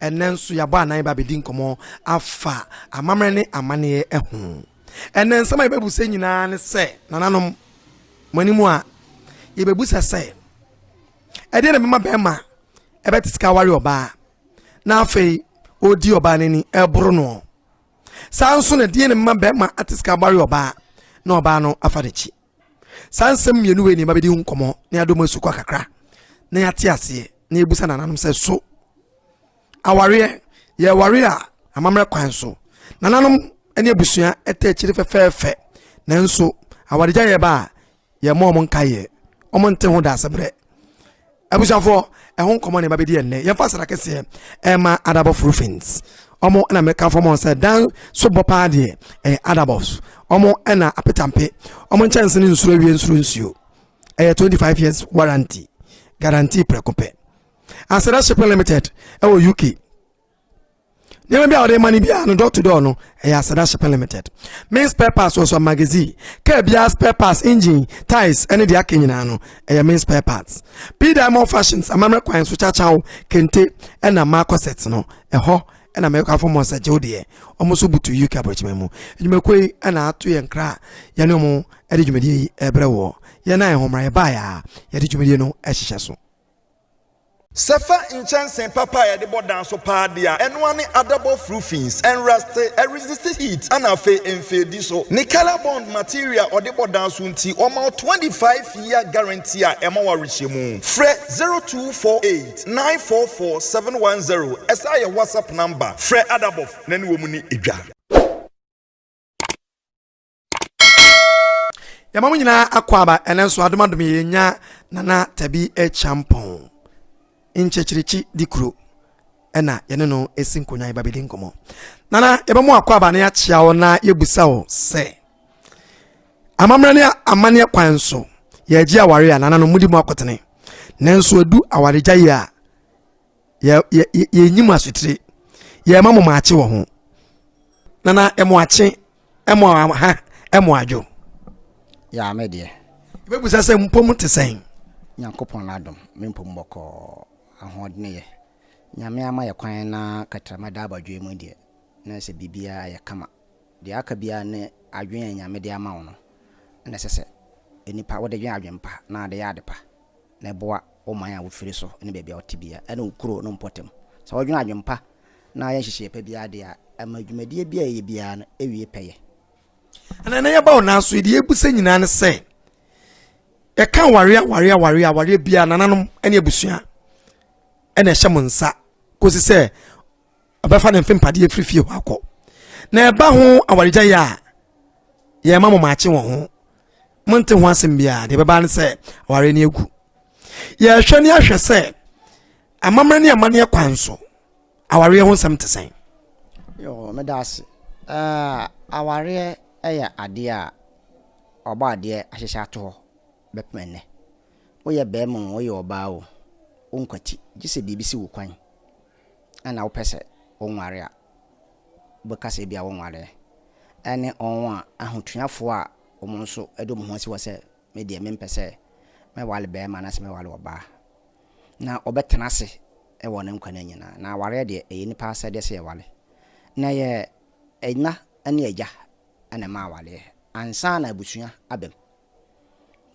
Ɛnnɛ nso yɛabɔ anan aba abɛdi nkɔmmɔ afa amammerɛ ne amanneɛ ho. Ɛnnɛ nsɛm a yɛbɛbisa nyinaa ne sɛ, nananom, mo anim a, yɛbɛbisa sɛ, ɛdeɛn na ɛbɛma bɛrima ɛbɛte sika aware ɔbaa na afei ɔredi ɔbaa no ani ɛreboro noɔ? Saa nso na ɛdeɛn na ɛbɛma bɛrima ate sika aware ɔbaa na ɔbaa no afa n'akyi? Saa nsɛm mmienu wei na yɛbɛdi ho nkɔmmɔ na yɛadɔ mu asukɔ kakra na yɛate aseɛ na yɛbusa nananom sɛ so awareɛ yɛware a amammerɛ kwan so nananom ne abusua ɛtɛ akyiri fɛfɛɛfɛ nanso awaregya yɛba a yɛmmɔ wɔn nkaeɛ wɔn nte ho daasebrɛ abusuafoɔ ɛho nkɔmɔ na ɛba bɛdi ɛnnɛ yɛmfa aseda kɛseɛ ɛma adabɔ frufins ɔmo ɛna meka fɔm sɛ dan so bɔ paa deɛ ɛyɛ adabɔs ɔmo ɛna apetampe ɔmo nkyɛnse ne nsuro awie nsuro nsuo ɛyɛ 25 years warranty guarantee prɛko pɛ aseda shipping limited ɛwɔ uk nneɛma bi a wɔde ma no biara no door to door no ɛyɛ aseda shipping limited main spare parts wɔ so magazine kaa biara spare parts engine ties ɛne deɛ aka nyinaa no ɛyɛ main spare parts p diamond fashions amammerɛ kwan so kyakyaw kente ɛna marco set no ɛhɔ ɛna mɛkɔ afɔ mɔ sɛ gyew deɛ wɔn nso butu uk aburokyima mu adwumakuo yi ɛna ato yɛn kra a yɛne wɔn ɛde dwumadie yi ɛbrɛ wɔ yɛn a yɛn ho mmara yɛ baa yɛ a yɛde dwumadie no ɛhyehyɛ so. Sɛ fa nkyɛnsee papa a yɛde bɔ dan so paa de a, ɛno ara ne adabɔ furu fins, ɛnrɛste, ɛresiste heat, ɛna afei ɛnfeedi so. Ne color bond material a ɔde bɔ dan so nti ɔma wo 25 year guarantee a ɛma wo awerehyɛmu. Frɛ 0248 944 710 ɛsan yɛ WhatsApp number. Frɛ Adabɔf na ne wɔn nni dwa. yɛma mo nyinaa akɔ aba ɛnɛ nso adomadom yɛnya nana tabi kyampɔn nkyɛkyerɛkyi di kuro ɛna yɛne no ɛsi nkonnwa yɛba bɛdi nkɔmmɔ nana yɛbɛmo akɔ aba na yɛakyea wo na yɛbusa wo sɛ amammerɛ ne amanneɛ kwan so yɛagye aware a nana no mudi mu akɔtene nanso ɛdu awaregya yi a yɛnyi mo asotire yɛma mo maakye wɔ ho na na ɛmo akye ɛmo ha ɛmo adwo yɛa me deɛ yɛbɛbusa sɛ mpɔ mu te sɛn nyankopɔn no adom me mpɔ mu bɔkɔ ahoɔdene yɛ nyame ama yɛ kwan na katrama da abadwoe mu deɛ na sɛ biribiaa yɛ kama deɛ aka biaa ne adwene a nyame de ama wo no na ɛsɛ sɛ nipa wode dwen adwen pa na ade yɛ ade pa na ɛboa wo man a wofiri so ne baabi a wote biara ne wo kuro no mpɔtam. Sɛ wodwene adwene pa na ayɛ nhyehyɛeɛ pa biara deɛ a, ɛma dwumadie biara a yɛyɛ biara no ɛwie pɛyɛ. Ɛnna ɛnnɛ yɛba hɔ nanso yɛde yɛbu sɛ nyinaa ne sɛ yɛka awareɛ awareɛ awareɛ awareɛ biara nananom ne abusua ɛna ɛhyɛ mo nsa kɔsi sɛ ɔbɛfa ne mfe mpadeɛ firi fie hɔ akɔ na ɛba ho awaregya yi a yɛma mo maakye wɔ ho monte ho asɛm biara deɛ ɛbɛba ne sɛ aware no agu yɛhwɛ ne ahwɛ sɛ amammerɛ ne amanneɛ kwan so awareɛ ho nsɛm te sɛn meda ase awareɛ yɛ adeɛ a ɔbɔ adeɛ ahyehyɛ ato hɔ bɛpem ɛnnɛ woyɛ bɛrima o woyɛ ɔbaa o wonkwati gye sɛ biribi si wo kwan na wopɛ sɛ wonware a, wobɛka sɛ ebia wonwareɛ, ɛne wɔn a ahotuafoɔ a wɔn nso de wɔn ho asi hɔ sɛ me deɛ mempɛ sɛ mɛware barima anaasɛ mɛware ɔbaa, na wɔbɛtena ase wɔ ne nkwa nna nyinaa. Na awareɛ deɛ, ɛyɛ nnipa asɛdeɛ sɛ yɛware. Na ɛyɛ ɛna ne agya na ɛma awareɛ, ansa na abusua aba mu.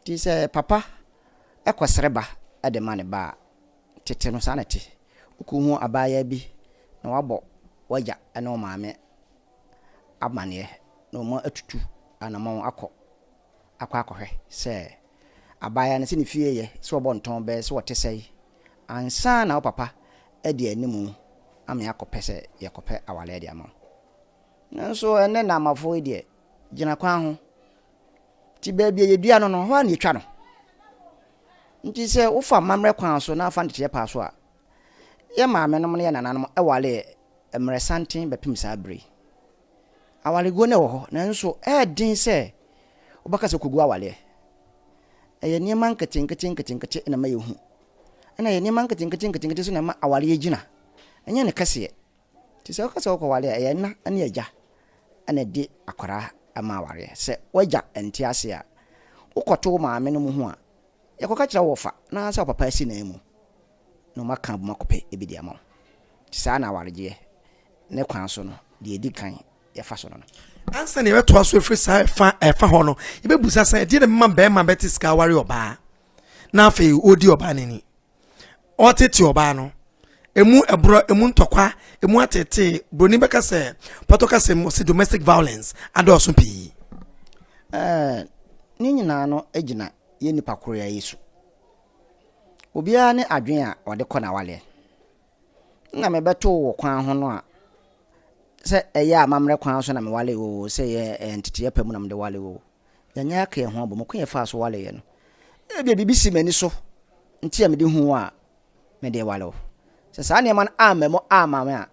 Nti sɛ papa kɔsrɛ ba de ma ne ba a, Tete no, saa na ɛte. Wukohu abaayaa bi na wabɔ w'agya ne wo maame amanneɛ na wɔatutu anammɔn akɔ akɔ akɔhwɛ sɛ abaayaa no, sɛ ne fie yɛ, sɛ ɔbɔ ntɔn bɛn, sɛ ɔte sɛn, ansa na wo papa de anim amee akɔpɛ sɛ yɛkɔpɛ aware de ama wo. Nanso ɛnnɛ Naamafo yi deɛ, gyina kwan ho. nti baabi a yɛdua no no, hɔ ara na yɛtwa no. Nti sɛ wofa mmammerɛ kwan so na afa nteteɛ paa so a, yɛn maamenom ne yɛn nananom wareɛ mmerɛ santen bɛpem saa berɛ yi. Awareguo no wɔ hɔ, nanso ɛyɛ den sɛ wobɛka sɛ kɔgu awareɛ. Ɛyɛ nneɛma nketenkete nketenkete na ɛma yɛhu. Ɛna ɛyɛ nneɛma nketenkete nketenkete nso na ɛma awareɛ gyina. Ɛnyɛ ne kɛseɛ. Nti sɛ woka sɛ wokɔware a, ɛyɛ ɛna ne agya na ɛde akwadaa ma awareɛ. Sɛ w'agya nte ase a, wokɔto wo maame nom ho a, yɛkɔka kyerɛ wo wɔfa na ansa wo papa asi nan mu na wɔn aka abom akɔpɛ bi de ama wo. Nti saa na awaregyeɛ ne kwan so no, deɛ ɛdi kan yɛfa so no no. Ansa na yɛbɛtoa so ɛfiri saa ɛfa ɛfa hɔ no, yɛbɛbusa sɛ ɛdeɛ na ɛbɛma barima bɛte sika aware ɔbaa na afei ɔredi ɔbaa no ani. ɔretete ɔbaa no. Emu ɛborɔ, emu ntɔkwa, emu atetee. Broni bɛka sɛ, pɔtɔ kasa mu ɔse domestic violence adɔɔso pii. Ɛɛ, ne nyinaa no gyina yɛn nipa koroa yi so. Obiara ne adwene a ɔde kɔ n'awaleɛ. Nna mebɛtoo wɔ kwan ho no a, sɛ ɛyɛ amammerɛ kwan so na mewalee wo o, sɛ ɛyɛ nteteɛ pa mu na mede walee wo o, Yɛanyɛ aka yɛn ho abom. Ɔkwan a yɛfaa so waree yɛn no, ebia biribi sii m'ani so nti a mede huu a mede reware wo. Sɛ saa nneɛma no amma mu amma me a,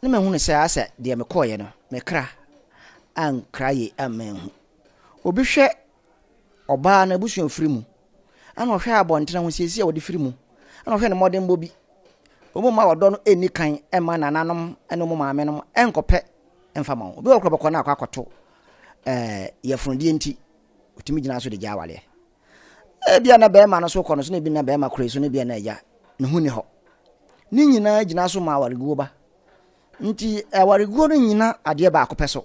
na mahunu sɛ asɛ deɛ mekɔeɛ no, me kra ankra yie amma anhu. Obi hwɛ ɔbaa no abusuafiri mu Ana ɔhwɛ abɔntene ahosiesie a wɔde firi mu? Ana ɔhwɛ ne mmɔdenbɔ bi? Wɔn mma ɔdɔ no nni kan mma nananom ne wɔn maamenom nkɔpɛ mfa ma wɔn. Obi wɔ hɔ kora ɔbɛkɔ na akɔ akɔto ɛɛ yɛfunudie nti, ɔtumi gyina so de gya awaleɛ. Ebia na barima no so kɔ no so na ebi na barima kora so na ebia na agya ne ho ni hɔ. Ne nyinaa gyina so ma awareguo ba. Nti awareguo no nyina adeɛ baako pɛ so.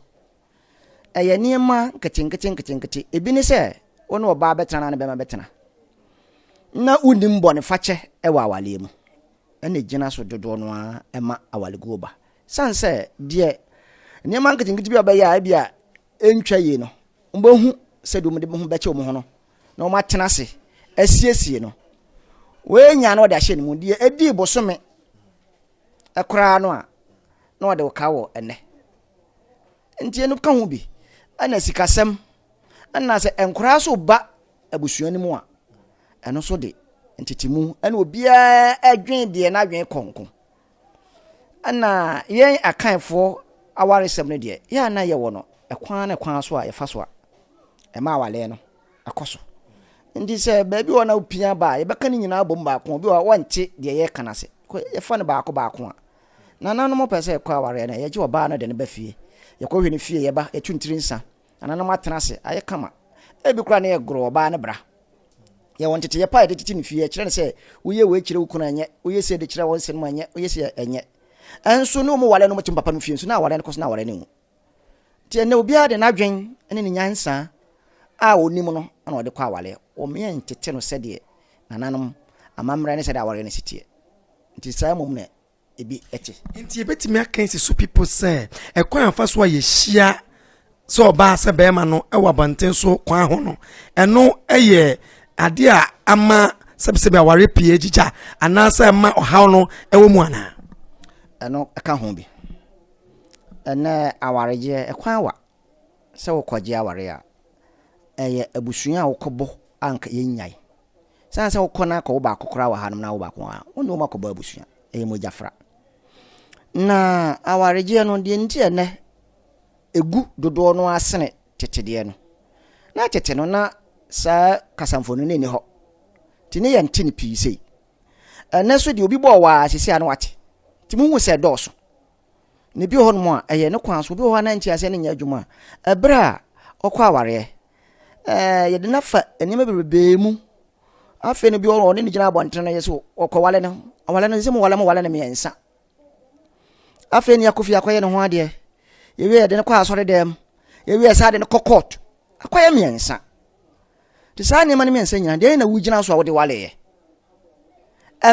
Ɛyɛ nneɛma nketenkete nketenkete. Ebi ne sɛ wo ne ɔbaa bɛtena na ne bɛma bɛtena. Na wonim bɔnefakyɛ wɔ awaleɛ mu. Ɛna ɛgyina so dodoɔ no ara ɛma awaleguo ba. Sane sɛ deɛ nneɛma nketenkete bi a ɔbɛyɛ a ebi a ɛntwa yie no, wɔbɛhu sɛ deɛ wɔde ho bɛkyɛ wɔn ho no na wɔatena ase asiesie no. Wɔanya na wɔde ahyɛ ne mu deɛ ɛdii bosome koraa no a na wɔde wo ka wɔ ɛnɛ. Nti ɛno ka ho bi. Ɛna sikasɛm, ɛna sɛ nkwadaa so ba abusua no mu a, ɛno so de ntetemu ɛna obiara ɛdwen deɛ n'adwen kɔ nko. Ɛna yɛn akanfoɔ awaresɛm no deɛ, yɛ a na yɛwɔ no ɛkwan ne kwan so a yɛfa so a ɛma awaleɛ no ɛkɔ so. Nti sɛ baabi wɔ na wopia ba a, yɛbɛka ne nyinaa abom baako, obi wɔ hɔ a wɔnte deɛ yɛka no ase, yɛfa no baako baako a. Nananom pɛ sɛ yɛkɔ awareɛ no, yɛgye ɔbaa no de no ba fie. Yɛkɔhwɛ no fie, yɛba, yɛtu ne tiri nsa. Nananom atena ase, ayɛ kama. Ebi koraa na yɛgoro ɔbaa no bra. Yɛwɔ nteteyɛ pa a yɛde tete no fie, yɛkyerɛ no sɛ, woyɛ wei kyerɛ wo kunu a, ɛnyɛ, woyɛ sei de kyerɛ wo nsenom a, ɛnyɛ, woyɛ sei a, ɛnyɛ. Nso ne wɔn ware no, wɔte me papa no fie nso, na awareɛ no kɔ so na awareɛ no nwu. Nti ɛnnɛ obiara de n'adwen ne ne nyansa a ɔnim no na ɔde kɔ awareɛ. Wɔmeɛ ntete no sɛdeɛ nananom amammerɛ ne sɛdeɛ awareɛ no si teɛ. Nti saa mmom na ebi te. Nti yɛbɛtumi aka yi sɛ so people sɛ ɛkwan a yɛfa so a yɛhyia sɛ ɔbaa sɛ bɛrima no wɔ abɔnten so kwan ho no, ɛno yɛ adeɛ a ama sɛbisɛbi awareɛ pii agyigya anaasɛ ɛma ɔhaw no wɔ mu anaa? Ɛno ɛka ho bi. Ɛnnɛ awaregyeɛ ɛkwan wa sɛ wokɔgye awareɛ a, ɛyɛ abusua a wokɔbɔ a nka yɛnnyae. Sane sɛ wokɔ na kɔ wo baako koraa wɔ hanom na wo baako wɔ ha, wo ne wɔn akɔbɔ abusua, ɛyɛ mogya fra. Na awaregyeɛ no deɛ nti a ɛnnɛ ɛgu dodoɔ no ara sene tete deɛ no, na tete no na saa kasamfonin no nni hɔ, nti ne yɛnte no pii sei. ɛnɛ so deɛ obi bɔɔ wɔ a sisi a na wate nti mo hu sɛ ɛdɔɔso na ebi wɔ hɔ nom a ɛyɛ ne kwan so obi wɔ hɔ a na nti aseɛ ne nyɛ adwuma ɛberɛ a ɔkɔ awareɛ ɛɛ yɛde no afa nneɛma bebree mu afei no bi wɔ hɔ ɔne ne gyina abɔnten no yɛ so ɔkɔ wale no ɔwale no sɛ mo wale mo wale no mmiɛnsa afei ne yɛakɔ fie akɔyɛ ne ho adeɛ yɛwie yɛde no kɔ asɔre dɛm yɛwie saa de no kɔ court akɔyɛ mmiɛnsa nti saa nneɛma no mmiɛnsa nyina deɛ na wogyina so a wode waleɛ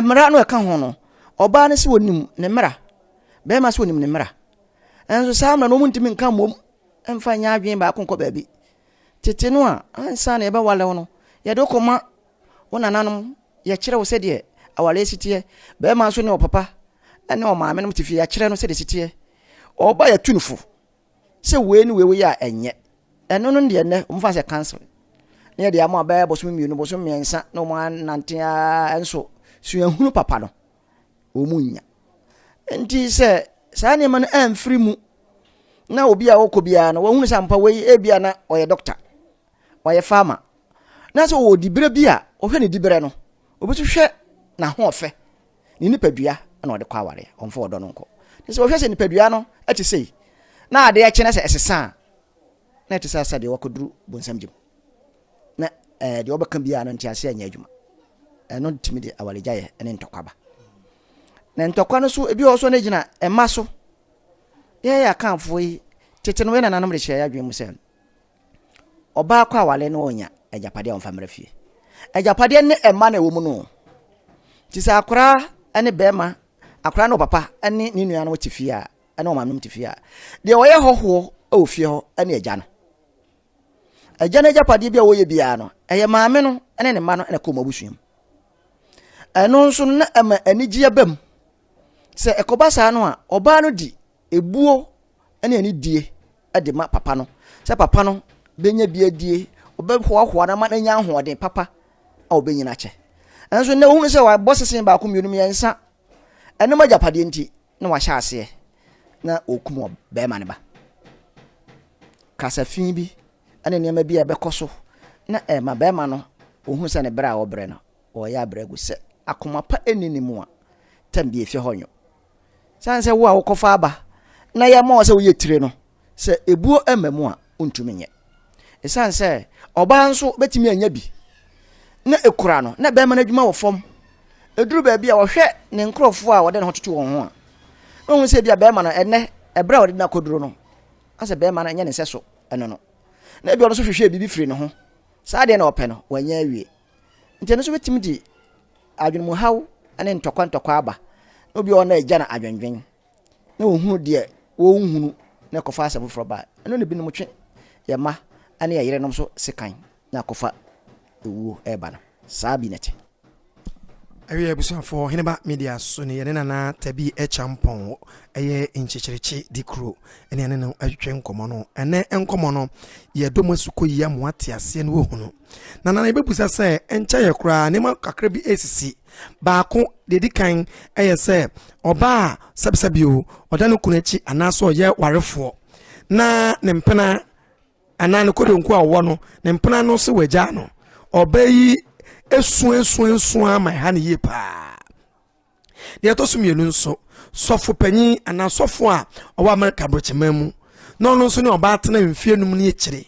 mmara no ɛka ho no ɔbaa no sɛ wɔnim ne mmara bɛrima sɛ wɔnim ne mmara ɛnso saa mmara no ɔmuntimi nka mmom ɛmfa nyɛ adwene baako nkɔ baabi tete no a ansa na yɛbɛwalew no yɛde wokɔma Wo nananom yɛkyerɛ wo sɛdeɛ awareɛ si teɛ. Bɛɛma nso ne ɔpapa ne ɔmaame nom te fie yɛakyerɛ no sɛdeɛ si teɛ. Ɔba yɛtu no fo sɛ wei ne wei woyɛ a ɛnyɛ. Ɛno no deɛ nnɛ wɔmfa sɛ council. Ne yɛde ama bɛɛ bosom mmienu bosom mmiɛnsa na wɔn anante ara nso suahunu papa no wɔn nya. Nti sɛ saa nneɛma no amfiri mu na obi a ɔkɔ biara no wɔhunu sɛ ampa wei ebia na ɔyɛ doctor. ɔyɛ farmer na sɛ ɔwɔ diberɛ bi a ɔhwɛ ne diberɛ no obi so hwɛ n'ahoɔfɛ ne nipadua na ɔde kɔ awareɛ ɔmfa ɔdɔ no nkɔ ne sɛ ɔhwɛ sɛ nipadua no ɛte sei na adeɛ kye na sɛ ɛsesa a na ɛte sɛ sɛ deɛ wakɔduru bonsam gye mu na ɛɛ eh, deɛ ɔbɛka biara no nte aseɛ anyɛ adwuma ɛno eh, tumi de awaregyaeɛ ne ntɔkwa ba na ntɔkwa no so ebi wɔ so no gyina ɛma so yɛyɛ akanfoɔ yi tete no yɛ nananom de hyɛ yɛ adwene mu sɛ Ɔbaa kɔ aware no ɔnya agyapadeɛ a ɔmfa mmra fie. Agyapadeɛ ne mma na ɛwɔ mu no. Nti sɛ akoraa ne bɛrima, akoraa ne ɔpapa ne ne nua no te fie a, ɛne wɔn manom te fie a, deɛ ɔyɛ hɔhoɔ wɔ fie hɔ ne agya no. Agya no agyapadeɛ bi a wɔyɛ biara no, ɛyɛ maame no ne ne mma no na ɛkɔ wɔn abusua mu. Ɛno nso no na ɛma anigyeɛ ba mu. Sɛ ɛkɔba saa no a, ɔbaa no di Ebuo ne anidie de ma papa no, sɛ papa no bɛnya bi adie, ɔbɛhoahoa no ama no anya ahoɔden papa a ɔbɛnyina akyɛ. Nanso nnɛ wohunu sɛ wabɔ sesee baako mmienu mmiɛnsa, ɛnom agyapadeɛ nti na wahyɛ aseɛ na ɔkum ɔbarima no ba. Kasa fi bi ne nneɛma bi a ɛbɛkɔ so na ɛma barima no ɔhunu sɛ ne berɛ a ɔbrɛ no ɔreyɛ abrɛ agu sɛ akoma pa nni ne mu a, tam bi efie hɔ nwo. Sane sɛ wo a wokɔfa aba na yɛma wo sɛ woyɛ tire no, sɛ ebuo mma mu a, wontumi nyɛ. Esiane sɛ ɔbaa nso betumi anya bi na ekura no na bɛrima no adwuma wɔ fam. Eduru baabi a ɔhwɛ ne nkurɔfoɔ a wɔde ne ho toto wɔn ho a, na ohun sɛ ebi a bɛrima no ɛnɛ ɛberɛ a wɔde no akɔduro no, asɛ bɛrima no nyɛ ne nsɛso ɛno no. Na ebi ɔno nso hwehwɛ biribi firi ne ho. Saa adeɛ na ɔpɛ no, wanya awie. Nti ɛno nso bɛtumi de adwenemuhaw ne ntɔkwa ntɔkwa aba. Na obi a ɔwɔ na agya na adwendwen na ɔhunu deɛ wɔnhunu na ɛkɔfa asɛm foforɔ ba ɛno na binom twe yɛ mma ne yɛ yerenom so sekan na akɔfa ewuo ɛreba no saa bi na ɛte. Ɛwia abusuafoɔ Heneba Media so ne yɛne Nana Tabi Kyampɔn ɛyɛ nkyekyerekye di kuro ɛne yɛne no atwetwe nkɔmmɔ no. Ɛnɛ nkɔmmɔ no yɛdɔ mo asu kɔ yia mo ate aseɛ ne wahunu Na nana yɛbɛbisa sɛ ɛnkyɛeɛ koraa nneɛma kakra bi resisi. Baako, deɛ ɛdi kan yɛ sɛ ɔbaa a sɛbsɛbi o, ɔda ne kunu akyi anaasɛ ɔyɛ warefoɔ na ne mpena anaa ne kodonkɔ a ɔwɔ no, ne mpena no se wagyaa no. Ɔbaa yi suasuasua ma ɛha no yie paa. Nea ɛtɔ so mmienu nso, sɔfo panyin anaa sɔfo a ɔwɔ Amerika Aborɔkyeman mu na ɔno nso ne ɔbaa tena mfe anum ne akyiri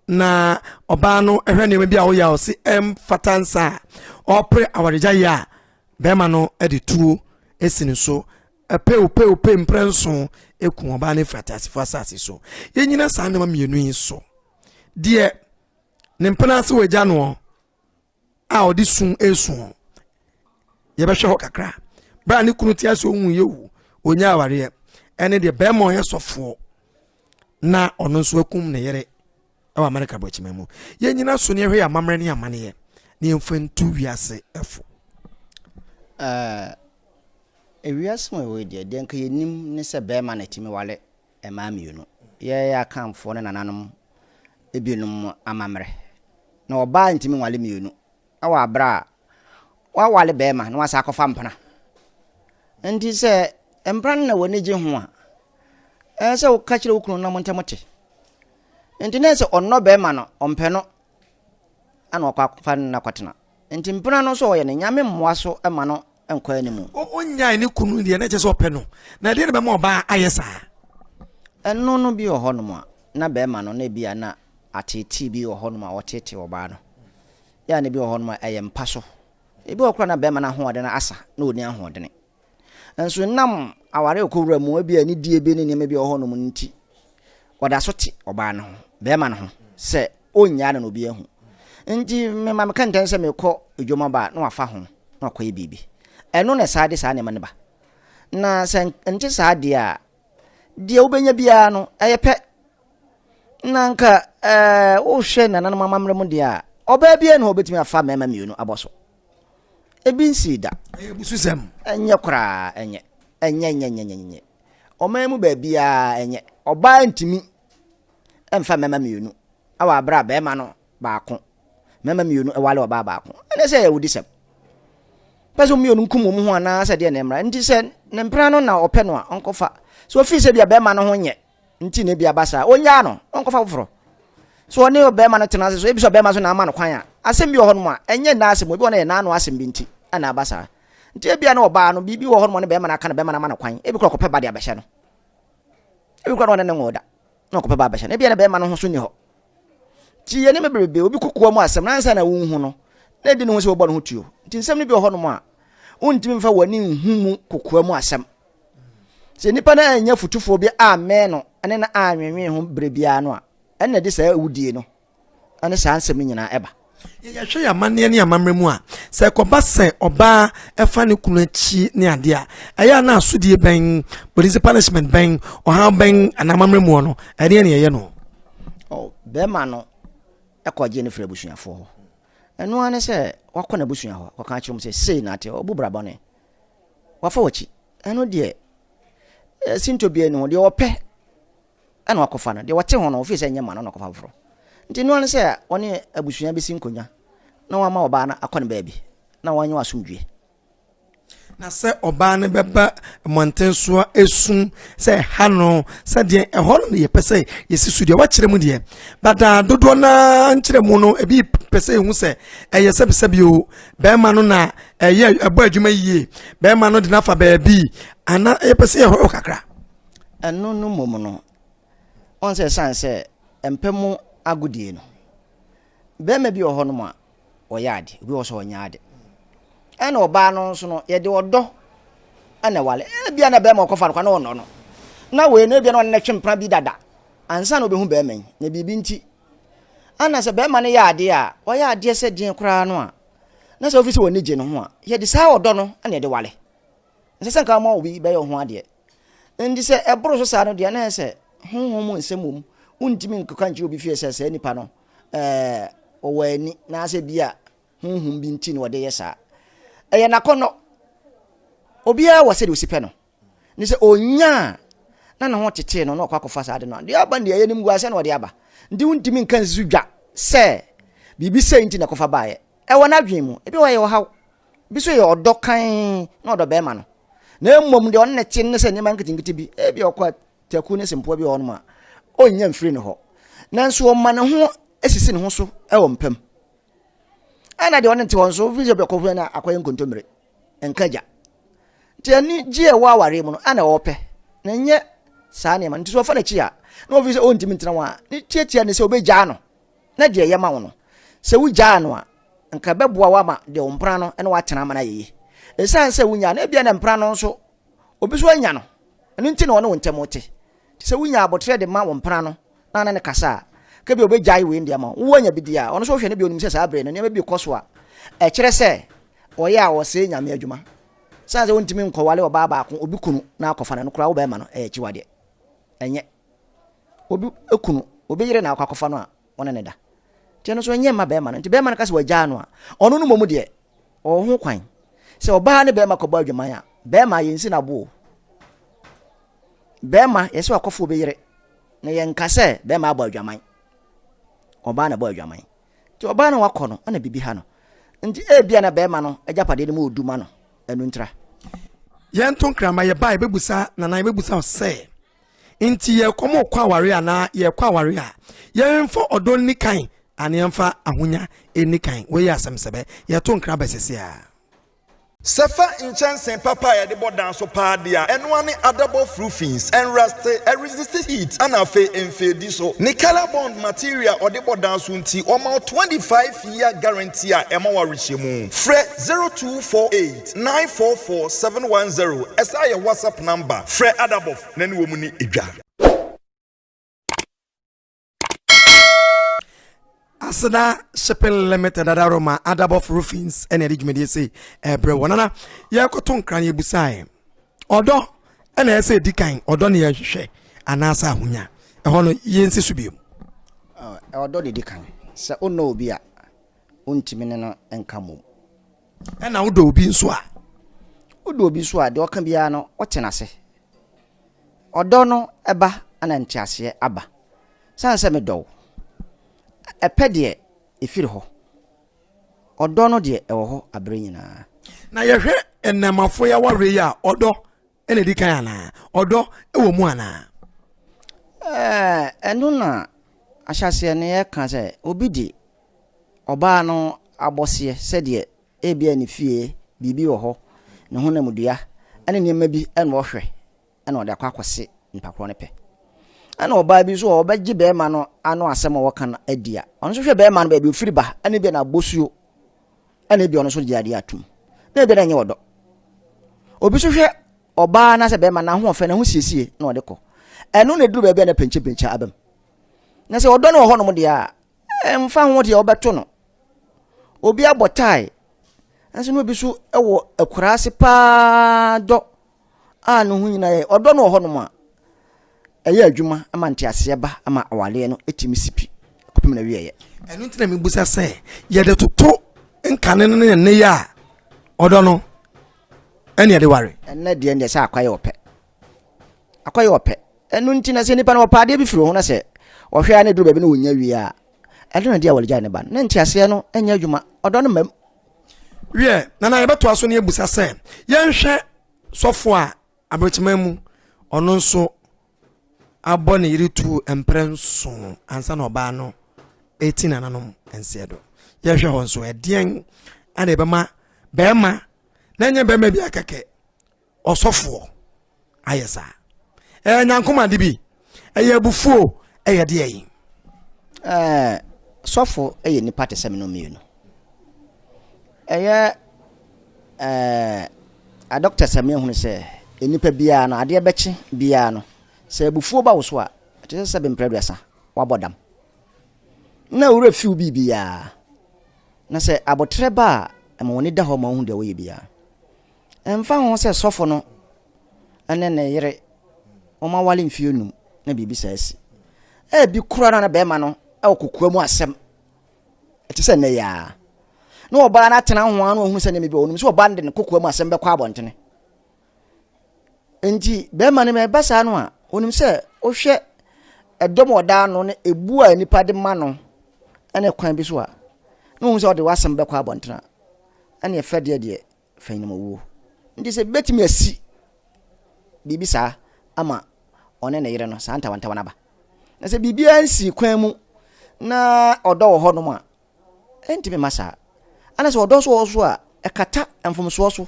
na ɔbaa no hwɛ nneɛma bi a ɔyɛ a ɔse ɛmfata nsa a ɔpere awaregyaeɛ a bɛrima no de tuo si ne so pew pew pew mprɛ nso eku ɔbaa no efiri ateasefo asase so yɛnyina saa nneɛma mmienu yi so deɛ ne mpena ase wɔ agya noɔ a ɔde su resu ho yɛbɛhwɛ hɔ kakra berɛ a ne kunu te ase ɔhu yɛ wu ɔnya awareɛ ɛne deɛ bɛrima ɔyɛ sɔfoɔ na ɔno nso akum ne yere ɛwɔ amerika bɔkyima mu yɛn nyina so ne ɛhwɛ yɛ amammerɛ ne amaneɛ ne yɛmfa ntu wiase ɛfo ewiase mu ɛwɔ deɛ deɛ nka yɛnim ne sɛ bɛrima na ɛtumi wale mmaa mmienu. Yɛn Akanfoɔ ne nananom binom amammerɛ na ɔbaa ntumi nwale mmienu wɔ aberɛ a wawale barima na wasan akɔfa mpena. Nti sɛ mpena no na w'ani gye ho a, ɛsɛ sɛ woka kyerɛ wo kunu na mo ntam te. Nti na ɛsɛ sɛ ɔnnɔ barima no, ɔmpɛ no na wakɔfa no na wakɔtena. Nti mpena no so ɔyɛ ne nyame mmoa so ma no nkɔ anim. Ɔnyae ne kunu deɛ na ɛkyɛ sɛ ɔpɛ no na ɛdeɛ na bɛma ɔbaa ayɛ saa. Ɛno no bi wɔ hɔ nom a na bɛɛma no na ebia na ateetee bi wɔ hɔ nom a ɔteetee ɔbaa no yɛ a na ebi wɔ hɔ nom a ɛyɛ mpa so ebi wɔ hɔ koraa na bɛɛma no ahoɔden asa na ɔnni ahoɔdene. Nso ɛnam aware rekɔwura mu, ebia anidie bi ne nneɛma bi a ɛwɔ hɔnom no nti, ɔda so te ɔbaa no ho, bɛrima no ho, sɛ ɔnnyaa no na obi ahu. Nti mema meka ntɛn sɛ merekɔ adwuma ba a, na wafa ho na wakɔyɛ biribi. Ɛno na ɛsaa de saa nneɛma no ba. Na sɛ ɛnte saa deɛ a, deɛ wobɛnya biara no, ɛyɛ pɛ. Na nka ɛɛ wohwɛ nananom amammerɛ mu deɛ a, ɔbaa biara na ɔbɛtumi afa mmarima mmienu abɔ so. Ebi nsii da. Ɛyɛ abususɛm. Ɛnyɛ koraa, ɛnyɛ. Ɛnyɛ, ɛnyɛ, ɛnyɛ, ɛnyɛ, ɛnyɛ. Ɔman mu baabiara, ɛnyɛ. Ɔbaa ntumi mfa mmarima mmienu wɔ abere a barima no baako, mmarima mmienu ware ɔbaa baako. Ɛne sɛ ɛyɛ awudisɛm. Pɛ sɛ wɔn mmienu nkum wɔn ho anaasɛ deɛ na ɛmmra. Nti sɛ ne mpena no na ɔpɛ no a, ɔnkɔfa. So ofii sɛ bia barima no ho nyɛ nti na ebi aba saa ɔnyaa no ɔnkɔfa foforɔ so ɔne ɔbɛrima no tena ase so ebi sɛ ɔbɛrima so na ama no kwan a asɛm bi wɔ hɔ nom a ɛnyɛ nna asɛm ebi wɔ no yɛ n'ano asɛm bi nti ɛna aba saa nti ebi a na ɔbaa no biribi wɔ hɔ nom ɔne bɛrima no aka no bɛrima no ama no kwan ebi kora ɔkɔpɛ ba de abɛhyɛ no ebi kora na ɔne ne nwɔ da na ɔkɔpɛ ba abɛhyɛ no ebi a na bɛrima no ho so ni hɔ Nti yɛne me bebrebe obi kokoa mu asɛm na ansa na wonhu no na ɛdi ne ho sɛ wɔbɔ ne ho tuo nti nsɛm no bi wɔ hɔnom a wontumi mfa w'ani nhu mu kokoa mu asɛm sɛ nnipa no anya fotufoɔ bi ammɛn no ne no anwenwen ho berɛ biara no a ɛnna de saa awudie no ne saa nsɛm no nyinaa ɛba Yɛhwɛ yɛn amanneɛ ne amammerɛ mu a, sɛ ɛkɔba sɛ ɔbaa fa ne kunu akyi ne adeɛ a, ɛyɛ a na asodie bɛn, polisi punishment bɛn, ɔhaw bɛn anaa amammerɛ mu no, ɛdeɛ ne ɛyɛ no? Oh, bɛrima no kɔ gye ne firi abusuafoɔ hɔ. Ɛno ara ne sɛ wakɔ n'abusua hɔ kɔka akyerɛ mu sɛ sei na ate ɔbu bra bɔne. Wafa w'akyi. Ɛno deɛ, sinto biara ni ho. Deɛ ɔpɛ na wakɔfa no. Deɛ ɔte ho no, ɔfiri sɛ ɛnyɛ mma no na ɔkɔfa foforɔ. Nti ɛno ara ne sɛ ɔne abusua bɛsi nkonnwa na wama ɔbaa no akɔ ne baabi na wɔanya asomdwoeɛ. Na sɛ ɔbaa no bɛba mmɔnten so a ɛsu sɛ ha no sɛdeɛ ɛhɔ no na yɛpɛ sɛ yɛsi so deɛ wakyerɛ mu deɛ badaa dodoɔ no ara nkyerɛ mu no ebi pɛ sɛ ɛhu sɛ ɛyɛ sɛbisɛbi o bɛrima no na ɛyɛ ɛbɔ adwuma yie bɛrima no de no afa baabi ana yɛpɛ sɛ yɛhɔ kakra Ɛno no mmom no, ɔn sɛ ɛsan sɛ ɛmpɛ mo agodie no, barima bi wɔ hɔ nom a ɔyɛ ade, obi wɔ sɛ ɔnyɛ ade. Ɛna ɔbaa no nso no, yɛde ɔdɔ ɛna wale. Ebia na barima ɔkɔfa no kwa na ɔnɔ no. Na wei no ebia na ɔne no twe mpena bi dada. Ansa na obehu barima yi, na biribi nti. Ɛna sɛ barima no yɛ adeɛ a, ɔyɛ adeɛ sɛ deɛ koraa no a, na sɛ ofi sɛ wɔn ani gye no ho a, yɛde saa ɔdɔ no ɛna yɛde wale. Ɛnsɛ sɛ anka woma obi bɛyɛ wo ho adeɛ. Enti sɛ ɛboro so saa no deɛ na ɛyɛ sɛ honhom mu nsɛm wɔ mu. Wontumi nkeka nkyerɛ obi fie sɛ saa nipa no ɔwɔ ani naasɛ bi a honhom bi nti na ɔde yɛ saa. Ɛyɛ n'akɔnnɔ. Obiara wɔ sɛdeɛ ɔsi pɛ no. Ne sɛ ɔnya a na ne ho tetee no na ɔkɔ akɔfa saa ade no a, deɛ aba no deɛ ɛyɛ animguaseɛ na ɔde aba. Nti wontumi nka nsi so dwa sɛ biribi sei nti na ɛkɔfa baeɛ. Ɛwɔ n'adwene mu. Ebi wɔ hɔ a ɛyɛ ɔhaw. Bi nso yɛ ɔdɔ kann na ɔdɔ bɛrima no, na mmom deɛ ɔne no te ne sɛ nneɛma nketenkete bi, ebi ɔkɔ taku ne sempoa bi wɔ hɔnom a, ɔnnya mfiri ne hɔ. Nanso ɔma ne ho sisi ne ho so wɔ mpa mu. Ɛna deɛ ɔne no te hɔ nso, wofiri sɛ ɔkɔ hɔ na akɔyɛ nkontommire, nka gya. Nti anigye a ɛwɔ awareɛ mu no, ana ɔpɛ, na ɛnyɛ saa nneɛma no. Nti sɛ ɔfa n'akyi a, na ɔfiri sɛ ɔntumi ntena ho a, ne tiatia ne sɛ ɔbɛgyaa no. na deɛ ɛyɛ ma wo no, sɛ wogyaa no a, nka ɛbɛboa wo ama deɛ wo mpena no ne woatena ama no ayɛ yie. Ɛsiane sɛ wonyaa no, ebia na mpena no nso obi nso anya no, ɛno nti na ɔne wo ntam te. Nti sɛ wonya aboterɛ de ma wo mpena no na ne no kasa a, ka bi a ɔbɛgyae wei no de ama wo. Wowɔ anya bi deɛ a, ɔno nso wohwɛ no bi a ɔnim sɛ saa berɛ no nneɛma bi rekɔ so a ɛkyerɛ sɛ ɔyɛ a ɔsɛe Nyame adwuma. Ɛsiane sɛ wontumi nkɔware ɔbaa baako, obi kunu na akɔfa no, ɛno koraa wo bɛrima no, ɛyɛ akyiwadeɛ. Ɛnyɛ. obi kunu, obi yere na akɔ akɔfa no a, ɔne ne da. Nti ɛno nso ɛnyɛ mma bɛrima no. Nti bɛrima no ka sɛ wagyaa no a, ɔno no mmom deɛ, ɔwɔ ho kwan. Sɛ ɔbaa ne bɛrima kɔbɔ adwaman a, bɛrima yɛnsi no aboɔ. Bɛrima yɛ sɛ wakɔfa obi yere, na yɛnka sɛ bɛrima abɔ adwaman. Ɔbaa na ɛbɔ adwaman. Nti ɔbaa no wakɔ no, ɛna biribi ha no. Nti ebia na bɛrima no agyapadeɛ no mu ɔdu ma no, ɛno ntira. Yɛnto nkra ma yɛba a yɛbɛbusa, Nana, yɛbɛbusa wo sɛ, Nti yɛrekɔ mo rekɔ aware anaa yɛrekɔ aware a, yɛmfa ɔdɔ nni kan anaa yɛmfa ahonya nni kan. Wei yɛ asɛm sɛbɛ. Yɛto nkra ba seesei ara. Sɛ fa nkyɛnsee papa a yɛde bɔ dan so paa de a, ɛno ara ne adabɔf roofings, ɛnraste, ɛresiste heat, ɛna afei ɛnfeedi so. Ne Colarbond material a ɔde bɔ dan so nti, wɔma wo 25 year guarantee a ɛma wo awerehyɛmu. Frɛ 0248. Nine four four seven one zero ɛsan yɛ whatsapp number frɛ adabɔf na ne wɔn ni dwa. Aseda Shipping Limited adaro ma Adabɔf Roofings ɛna ɛde dwumadie sei ɛbrɛ wɔ nana yɛkɔto nkran yɛbusaeɛ ɔdɔ ɛna ɛsɛ ɛdi kan ɔdɔ ne yɛhwehwɛ anaasɛ ahonya ɛhɔ no yɛnsi so biom ɔdɔ ne di kan sɛ wonnɔ obi a wontumi ne no nka mmom Ɛna wodɔ obi nso a? Wodɔ obi nso a, deɛ ɔka biara no, wote no ase. Ɔdɔ no ba na nteaseɛ aba. Sane sɛ medɔ wo. Ɛpɛ deɛ, ɛfiri hɔ. Ɔdɔ no deɛ, ɛwɔ hɔ aberɛ nyinaa. Na yɛhwɛ nnɛɛmafoɔ yi awareɛ yi a, ɔdɔ na ɛdi kan anaa? Ɔdɔ wɔ mu anaa? Ɛno na ahyɛaseɛ no yɛka sɛ obi de ɔbaa no abɔseɛ sɛdeɛ ebia ne fie biribi wɔ hɔ, ne honamdua ne nneɛma bi na ɔhwɛ na ɔde akɔ akɔse nipa korɔ no pɛ. Ɛna ɔbaa bi nso a ɔbɛgye bɛrima no ano asɛm a wɔka no adi a, ɔno nso hwɛ bɛrima no baabi ɔfiri ba ne bia n'abɔsuo ɛna ebi ɔno nso gye adeɛ atum na ebi na ɛnyɛ ɔdɔ obi nso hwɛ ɔbaa na sɛ bɛrima n'ahoɔfɛ ne ho siesie na ɔde kɔ ɛno na eduru baabi a na pɛnkyɛpɛnkyɛ abam na sɛ ɔdɔ no wɔ hɔnom deɛ a ɛmfa ho deɛ ɔbɛto no obi abɔ tae nso na obi nso wɔ akuraase paa dɔ a no ho nyina yɛ ɔdɔ no wɔ hɔnom a, ɛyɛ adwuma ma nteaseɛ ba ma awareɛ no tumi si pi kɔpem na wieɛ. Ɛno nti na mebusa sɛ yɛde toto nkane no ne nneyɛ a ɔdɔ no ɛne ɛde ware. Ɛnɛ deɛ deɛ sɛ akɔyɛ ɔpɛ akɔyɛ ɔpɛ ɛno nti na sɛ nipa no ɔpɛ adeɛ bi firi ho na sɛ ɔhwɛ a na ɛduru baabi na ɔnya wie a ɛno na deɛ wɔde gyae ne ba no na nteaseɛ no ɛnyɛ adwuma ɔdɔ no mmam wiɛ nana yɛbɛtoa so ne abusa sɛ yɛnhwɛ sɔfo a aberɛkyema mu ɔno nso abɔ ne yere tu mprɛ nso ansa na ɔbaa no ɛti nananom nseɛ do yɛhwɛ hɔ nso ɛdeɛn ana ɛbɛma bɛrima na ɛnyɛ bɛrima bi akɛkɛ ɔsɔfoɔ ayɛ saa ɛyɛ nyankomade bi ɛyɛ abufuo ɛyɛ deɛ yi. ɛɛ sɔfo ɛyɛ nipa te sɛ mmienu mmienu ɛyɛ ɛɛ adɔkta sami ehunu sɛ nipa biara no adeɛ bɛkye biara no sɛ abufuo ba wo so a ɛte sɛ sɛ bɛmpere aduasa wabɔ dam na owura fiw bi biara na sɛ abotire ba a ɛma wɔn ani da hɔ ma wɔn ho deɛ wɔyɛ biara. Ɛmfa ho sɛ sɔfo no ne ne yere wɔaware mfe anum na biribi saa asi. Ebi koraa na na barima no wɔ kokoa mu asɛm. Ɛte sɛ nnɛ yi ara. Na ɔbaa no atena ho ara na ɔhunu sɛ nneɛma bi wɔ hɔ. Ɔnim sɛ ɔbaa no de ne kokoa mu asɛm bɛkɔ abɔntene. Enti barima no ma ɛba saa no a, ɔnim sɛ wohwɛ ɛdɔm a ɔda ano ne ebu a nnipa de ma no ne kwan bi so a, na ɔhu sɛ ɔde w'asɛm bɛkɔ abɔntene a, ɛne ɛfɛ deɛ deɛ fã no mu wuo. Nti sɛ bɛtumi asi biribi saa ama ɔne ne yere no, saa ntawantawa no aba. Na sɛ biribiara nsii kwan mu na ɔdɔ wɔ hɔnom a, ɛntumi ma saa. Ana sɛ ɔdɔ nso wɔ hɔ so a, ɛkata mfomsoɔ so.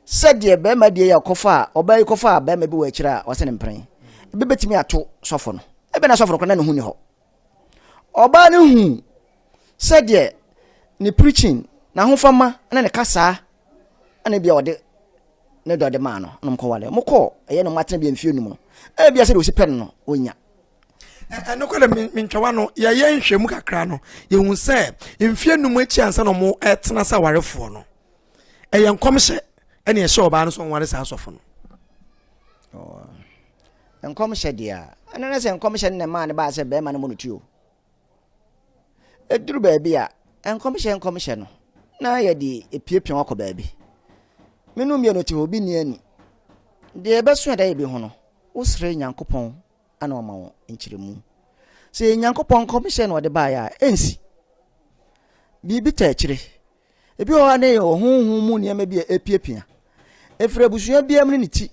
Sɛdeɛ bɛrima deɛ yi a ɔkɔfa a, ɔbaa yi kɔfa a bɛrima bi wɔ akyire a wɔasɛ ne mpran, ɛbɛbɛtumi ato sɔfo no. Ɛbɛ na sɔfo no kora na ne ho ni hɔ. Ɔbaa no huu sɛdeɛ ne preaching, n'ahofama ne ne kasaa na ebia ɔde ne dɔ de maa no na wɔkɔware. Wɔkɔɔ ɛyɛ na wɔatena bi mfeɛ num no, ebia sɛdeɛ ɔsi pɛ no no, ɔnya. Nokorɛ mentwa wa no, yɛyɛ nhwɛmu kakra no, yɛhu sɛ mfeɛ num akyi ansa na wɔtena sɛ awarefoɔ no, ɛyɛ nkɔmhyɛ ɛne ɛhyɛ ɔbaa no sɛ ɔnware saa asɔfo no. Nkɔmhyɛ deɛ a, ɛno ne sɛ nkɔmhyɛ no na ɛmaa no baa sɛ bɛrima no mmɔ no ti o. Ɛduru baabi a, nkɔmhyɛ nkɔmhyɛ no, na yɛde epiapia wakɔ baabi. Menu mmienu te hɔ, obi ni ani. Deɛ ɛbɛso ɛda yɛ bi ho no, wosrɛ Nyankopɔn ana ɔma wɔn nkyerɛmu. Sɛ yɛ Nyankopɔn nkɔmhyɛ na ɔde baeɛ a, ɛnsi. Biribi ta akyire. Ebi wɔ hɔ a na yɛ ɔhonhom mu nneɛma bi a ɛpiapia. Ɛfiri abusua biara mu ne ne ti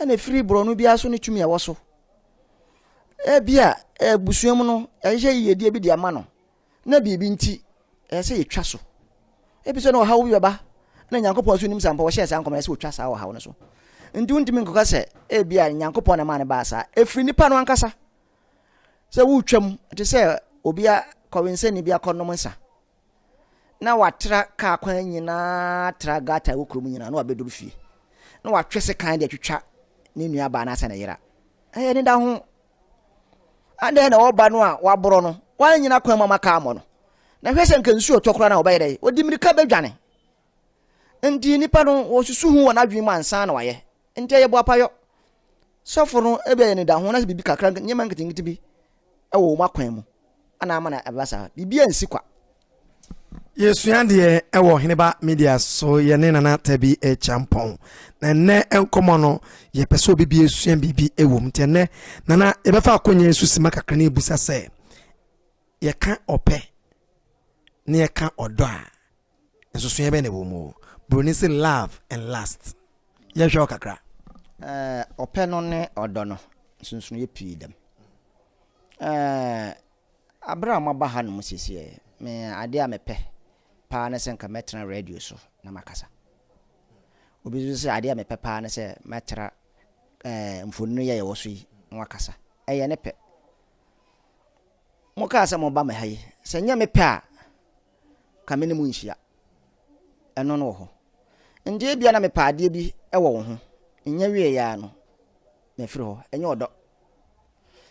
ɛna ɛfiri borɔno biara so ne tumi a ɛwɔ so ebi a abusua mu no ɛhyehyɛ yiyedie bi de ama no na biribi nti ɛyɛ sɛ yɛtwa so ebi sɛ na ɔhaw bi bɛba na nyankopɔn so nim saa mpa wɔhyɛ saa nkɔmɔ ɛsɛ wɔtwa saa ɔhaw no so nti wontumi nkɔka sɛ ebi a nyankopɔn na maa no baa saa ɛfiri nipa no ankasa sɛ wotwam te sɛ obi a kɔwensɛni bi akɔnom nsa na wɔatra kaa kwan nyina ara tra gata a ɛwɔ kurom nyina ara na wɔabɛduru fie, na wɔatwe sekan de atwitwa ne nuabaa no ase na yera. Ɛyɛ anidaho. Adɛn na ɔba no a waborɔ no, wannyina kwan mu ama kaa ammɔ no? Na hwɛ sɛ anka nsuo retɔ koraa na ɔbɛyɛ dɛn? Ɔde mmirika bɛdwane. Enti nnipa no wɔsusu ho wɔ n'adwene mu ansa na wayɛ. Enti ɛyɛ boapayɔ. Sɔfo no ebi ayɛ ne da ho na sɛ biribi kakra nneɛma nketenkete bi wɔ wɔn akwan mu ana ama na ɛba saa. Biribi ansi kwa. Yɛsua adeɛ wɔ Heneba Media so yɛne Nana Tabi Kyampɔn. Na ɛnnɛ nkɔmmɔ no yɛpɛ sɛ obi bi asua biribi wɔ mu. Nti ɛnnɛ Nana yɛbɛfa akonnwa yi so sima kakra na yɛbusa sɛ yɛka ɔpɛ na yɛka ɔdɔ a Nsusuiɛ bɛn na ɛwɔ mu? Buroni se love and lust. Yɛnhwɛ hɔ kakra. Eh, ɔpɛ no ne ɔdɔ no, nsusuiɛ pii dam. Eh, abere a moaba hanom sesiɛ, me adeɛ a mepɛ paa ne sɛ nka mɛtena radio so na makasa. Obi nso sɛ adeɛ a mepɛ paa ne sɛ mɛtra eh, mfonini yi a yɛwɔ so yi na wakasa. Ɛyɛ ne pɛ. Mokaa sɛ moba me ha yi, sɛ nyɛ me pɛ a, ka me ne mo nhyia. Ɛno no wɔ hɔ. Ndeɛ ebia na mepɛ adeɛ bi wɔ wo ho, nnya wieɛ ara no, mafiri hɔ. Ɛnyɛ ɔdɔ.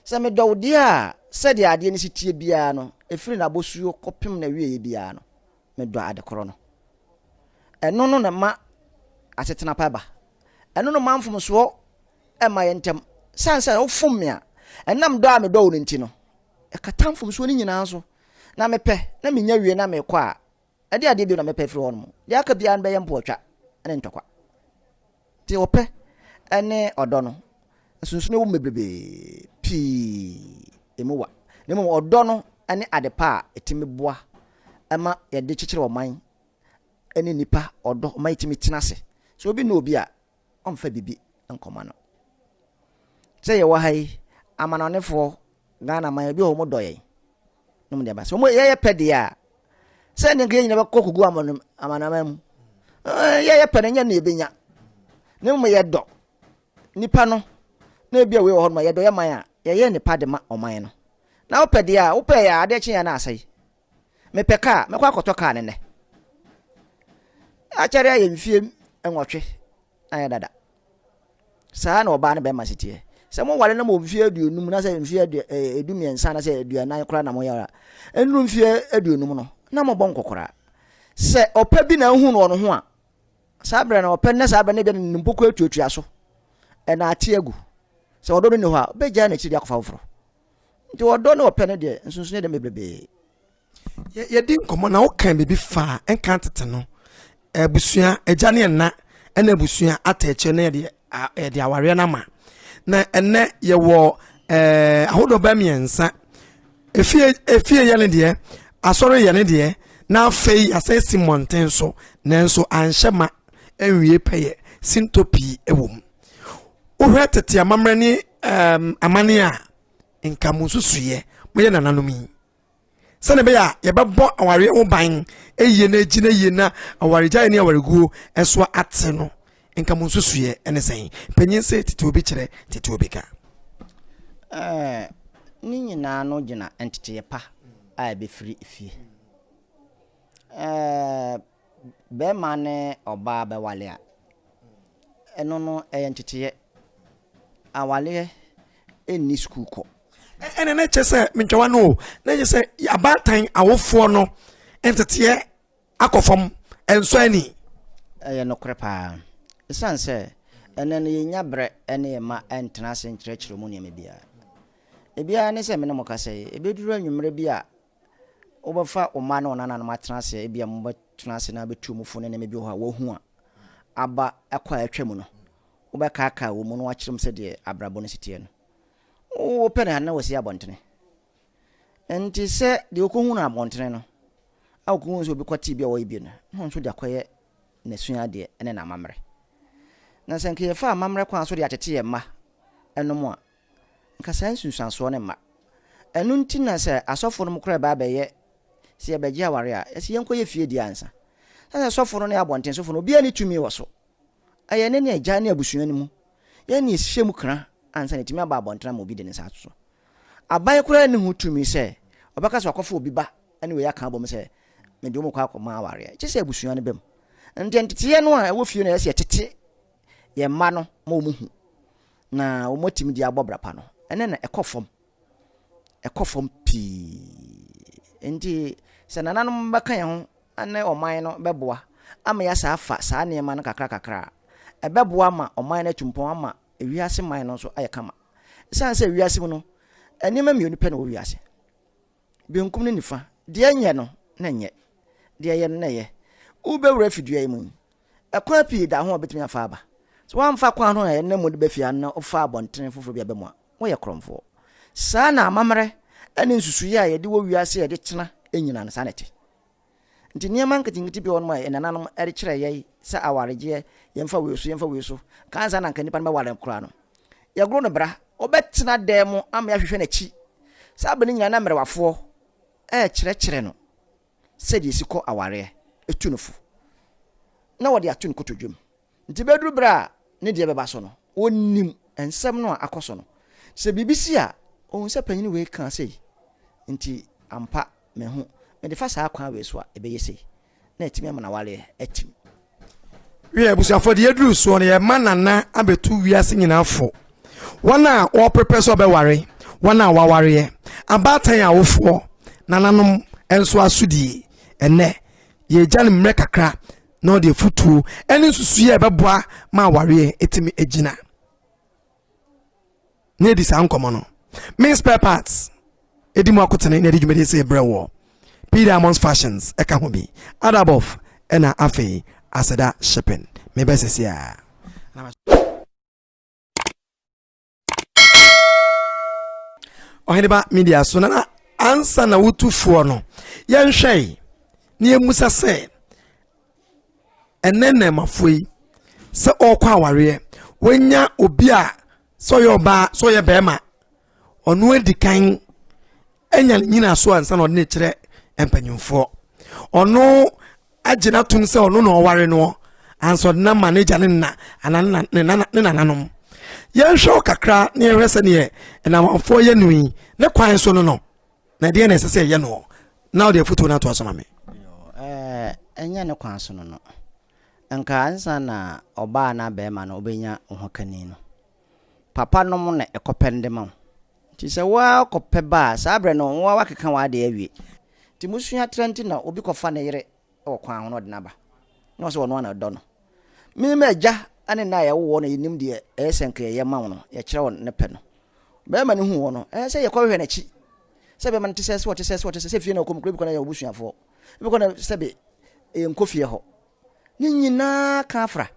Sɛ medɔ wo deɛ a, sɛdeɛ adeɛ no si teɛ biara no, ɛfiri n'abosuo kɔpem n'awieɛ biara no, medɔ ade korɔ no. Ɛno no na ɛma asetena pa ba. Ɛno no ma mfomsoɔ mma yɛn ntam. Sane sɛ wofom me a, ɛnam dɔ a medɔ wo no nti no, Ɛkata mfomsoɔ no nyinaa so. Na mepɛ, na menya wie na mekɔ a, ɛdeɛ adeɛ bio na mɛpɛ afiri hɔnom? Deɛ aka biara no bɛyɛ mpoatwa ne ntɔkwa. Nti ɔpɛ ne ɔdɔ no, nsonsonoeɛ wom bebrebe, pii ɛmu wa. Na mmom ɔdɔ no ne adepa a ɛtumi boa ma yɛde kyekyere ɔman ne nnipa ɔdɔ ma yɛtumi tena ase. Sɛ obi nnɔ obi a, ɔmfa biribi nkɔma no. Sɛ yɛwɔ ha yi, amanɔnefoɔ, Ghana man, ebi wɔ hɔ wɔn dɔ yɛn. Na wɔn nneɛma sɛ wɔn yɛyɛ pɛ deɛ a, sɛ ne nka yɛn nyinaa bɛkɔ kogu amano amanaman mu. Ɛɛ yɛyɛ pɛ no nyɛ ne yɛbɛnya. Ne mu yɛ dɔ nipa no. Na ebi a wei wɔ hɔ no ma yɛdɔ yɛ man a yɛyɛ nipa de ma ɔman no. Na wopɛ deɛ a wopɛ yɛ adeɛ kye yɛn na asɛe. Mepɛ kaa, mɛkɔ akɔtɔ kaa no nnɛ. Akyɛre ayɛ mfie nwɔtwe ayɛ dada. Saa na ɔbaa no bɛrima si teɛ. Sɛ mo wale no mo mfie aduonum na sɛ mfie adu eh, edu mmiɛnsa na sɛ aduanan koraa na mo yɛ nnuru mfie aduonum no na mo bɔ nkɔkora. Sɛ ɔpɛ bi na ehu no wɔn ho a, saa bere na ɔpɛ ne saa bere ne bɛ ne mpoko atuatua so ɛna ate agu. Sɛ ɔdɔ no ni hɔ a, bɛgyaa n'akyiri de akɔfa foforɔ. Nti ɔdɔ ne ɔpɛ no deɛ nsonsono yɛ dɛm bebrebee. Yɛdi nkɔmmɔ na wokan biribi faa nka tete no, abusua, agya ne ɛna, ɛna abusua atɛkyɛ na yɛde yɛde awareɛ no ama. Na ɛnɛ yɛwɔ ɛɛ ahodoɔ bɛɛ mmiɛnsa. Efie efie yɛ ne deɛ, asɔre yɛ ne deɛ, na afei yɛasɛ si mmɔnten so nanso anhyɛ ma ɛnwie pɛyɛ, sintɔ pii wɔ mu. Wohwɛ tete amammerɛ ne um, amane a nka mo nsusuiɛ moyɛ nananom yi sɛne ɛbɛyɛ a yɛbɛbɔ awareɛ ho ban ɛyie na agyi na yie na awaregyaeɛ ne awareguo ɛsoa ate no nka mo nsusuiɛ ɛne sɛn panyin sɛ tete obi kyerɛ tete obi ka eh, ne nyinaa no gyina nteteeɛ pa a ɛbɛfiri fie eh, Bɛrima ne ɔbaa bɛwale a, ɛno no ɛyɛ nteteeɛ. Awaleɛ nni sukuukɔ. Ɛnna na ɛkyɛ sɛ mentwawa no o, na ɛkyɛ sɛ abaatan awofoɔ no nteteeɛ akɔ fam, ɛnsɔ ani. Ɛyɛ nokorɛ paa. Ɛsiane sɛ ɛnnɛ no yɛnnya berɛ ne yɛn mma ntena ase nkyerɛkyerɛ mu nneɛma biara. Ebiara ne sɛ me ne mo kasa yi, ɛbɛduru anwummerɛ bi a Wobɛfa wo mma ne wo nananom atena ase, ebia mobɛtena ase na abɛtu wɔn fo ne nneɛma bi wɔ hɔ a wɔahu a aba ɛkɔ a atwa mu no. Wobɛkaakae wɔn mu na woakyerɛ wɔn sɛdeɛ abrabɔ no si teɛ no. Wopɛ ne ade na wɔasi abɔntene. Enti sɛ deɛ ɔkɔhu no abɔntene no a ɔkɔhu sɛ obi kɔtee bi a ɔyɛ bi no, na ɔnso de akɔyɛ n'asuadeɛ ne n'amammerɛ. Na sɛ anka yɛfa amammerɛ kwan so de atete yɛn mma nom a, Nka saa nsunsuansoɔ no mma. Ɛno nti na sɛ asɔfo nom koraa ɛba abɛyɛ sɛ yɛbɛgye aware a, ɛsɛ yɛnkɔ yɛ fie die ansa. Ɛsiane sɛ sɔfo no ne abɔnten sofo no obiara nni tumi wɔ so. Ɛyɛ ne ne agya ne abusua no mu yɛn ne ɛhyɛ mu kra ansa na ɛtumi aba abɔnten ama obi de ne nsa ato so. Aban koraa nni ho tumi sɛ ɔbɛka sɛ wakɔfa obi ba ne wei aka abom sɛ mede wɔn kɔ akɔma awareɛ. Gye sɛ abusua no bam. Ɛno nti nteteɛ no a ɛwɔ fie no ɛyɛ sɛ yɛtete yɛn mma no ma wɔn hu Na wɔatumi de abɔ bra pa no, ɛnɛ na ɛkɔ fam. Ɛkɔ fam pii. Nti sɛ nananom bɛka yɛn ho ne ɔman no bɛboa ama yɛasa afa saa nneɛma no kakra kakra a, ɛbɛboa ama ɔman no atu mpɔn ama wiase man no nso ayɛ kama. Ɛsiane sɛ wiase mu no, nneɛma mmienu pɛ na ɛwɔ wiase. Benkum ne nifa, deɛ nyɛ no na nyɛ, deɛ yɛ no na yɛ. Wobɛwura afi dua yi mu yi, ɛkwan pii da ho a wobɛtumi afa aba. Sɛ woamfa kwan no a ɛnam mu de ba fie ha no na wofaa abɔntene foforɔ bi a ɛbɛmu a, woyɛ korɔmfoɔ. Saa na amammerɛ ne nsusuiɛ a yɛde wɔ wiase a yɛde tena nyinaa no, saa na ɛte. Nti nneɛma nketenkete bi wɔ hɔnom a yɛn nananom de kyerɛɛ yɛn sɛ awaregyeɛ, yɛmfa wei so, yɛmfa wei so, ka ansa na nka nipa no bɛware no koraa no, yɛgoro no bra. Wobɛtena dan mu ama yɛahwehwɛ n'akyi. Saa bere no nyinaa na mmerewafoɔ rekyerɛkyerɛ no sɛdeɛ ɛsi kɔ awareɛ, ɛtu no fo, na wɔde ato ne kotodwe mu. Enti bɛduru berɛ a ne deɛ bɛba so no, ɔnnim nsɛm no a akɔ so no. Sɛ biribi si a, ɔhu sɛ panin wei kaa sei, enti ampa mahu, mede fa saa kwan wei so a, ɛbɛyɛ sei, na atumi ama n'awareɛ atim. Wiɛ, abusuafoɔ, deɛ aduru soɔ no, yɛrema nana abɛtu wiase nyinaa fo, wɔn a wɔreprepare sɛ wɔbɛware, wɔn a wɔawareɛ, abaatan awofoɔ, nananom nso asodie. Ɛnnɛ, yɛregya no mmerɛ kakra. na ɔde afutuo ne nsusuiɛ a ɛbɛboa ma awareɛ ɛtumi agyina na ɛdi saa nkɔmmɔ no me spare parts ɛdi mu akotene na ɛde dwumadie sɛ ɛbrɛ wɔ p diamonds fashions ɛka ho bi adabɔf ɛna afei aseda shipping mebɛsɛsɛ a ɔheneba media so na ansa na wotu foɔ no yɛnhwɛ yi na yɛmmusa sɛ ɛnɛ nnɛmafoɔ yi sɛ ɔrekɔ awareɛ wɔnya obi a sɛ ɔyɛ ɔbaa sɛ ɔyɛ bɛrima ɔno adi kan anya ne nyina so ansa na ɔde ne kyerɛ mpanyimfoɔ ɔno agye no atom sɛ ɔno na ɔware noɔ ansa ɔde no ama n'agya ne nna anaa ne nananom yɛnhwɛ wo kakra na yɛhwɛ sɛdeɛ ɛnamanfoɔ yɛ no yi ne kwan so no no na ɛdeɛ na ɛsɛ sɛ ɛyɛ noɔ na wode afotuo no atoa so ma me ɛnyɛ ne kwan so no no nka ansa na ɔbaa na bɛrima no wobɛnya ho kani no papa nom na ɛkɔpɛn de ma wo Nti sɛ wo ara wokɔpɛ ba a, saa berɛ no wo ara woakeka w'adeɛ awie. Nti mosua tra nti na obi kɔfa ne yere wɔ kwan ho na ɔde no aba, na ɔse ɔno ara na ɔdɔ no. Me m'agya ne nna a yɛwoo wɔn na yɛnim deɛ ɛyɛ sɛ nka yɛyɛ ma wo no, yɛkyerɛ wo ne pɛ no. Barima no huu hɔ no, ɛyɛ sɛ yɛkɔhwehwɛ n'akyi, sɛ bɛrima no te sɛɛ, sɛ ɔte sɛɛ, sɛ ɔte sɛɛ, sɛ fie na ɔkɔ mu koraa, ebi kɔ no ɛyɛ ɔbusuafoɔ, ebi kɔ no sɛbe ɛyɛ nkɔ fie hɔ, Ne nyinaa ka afra.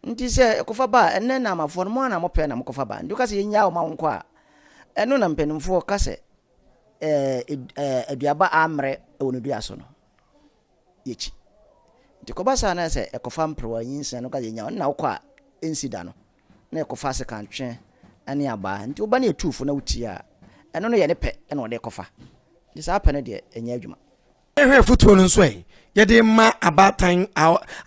Nti sɛ ɛkɔfa ba a, ɛnɛ Naamafoɔ no, mo ara na mopɛ na mokɔfa ba. Nti woka sɛ yɛnyaa wo ma wonkɔ a, ɛno na mpanimfoɔ ka sɛ aduaba ammrɛ wɔ ne dua so no, yɛkyi. Nti kɔba saa na sɛ ɛkɔfa mperewa nyinsɛn no, woka sɛ yɛnyaa wo, ɛno na wokɔ a, ɛnsi da no, na ɛkɔfa asekantwe ne abaa. Nti woba ne yɛtu wo fo na wotie a, ɛno no yɛ ne pɛ na ɔde rekɔfa. Nti saa pɛ no deɛ, ɛnyɛ adwuma. Yɛhwɛ afotuo no nso ɛ yɛde ma abaatan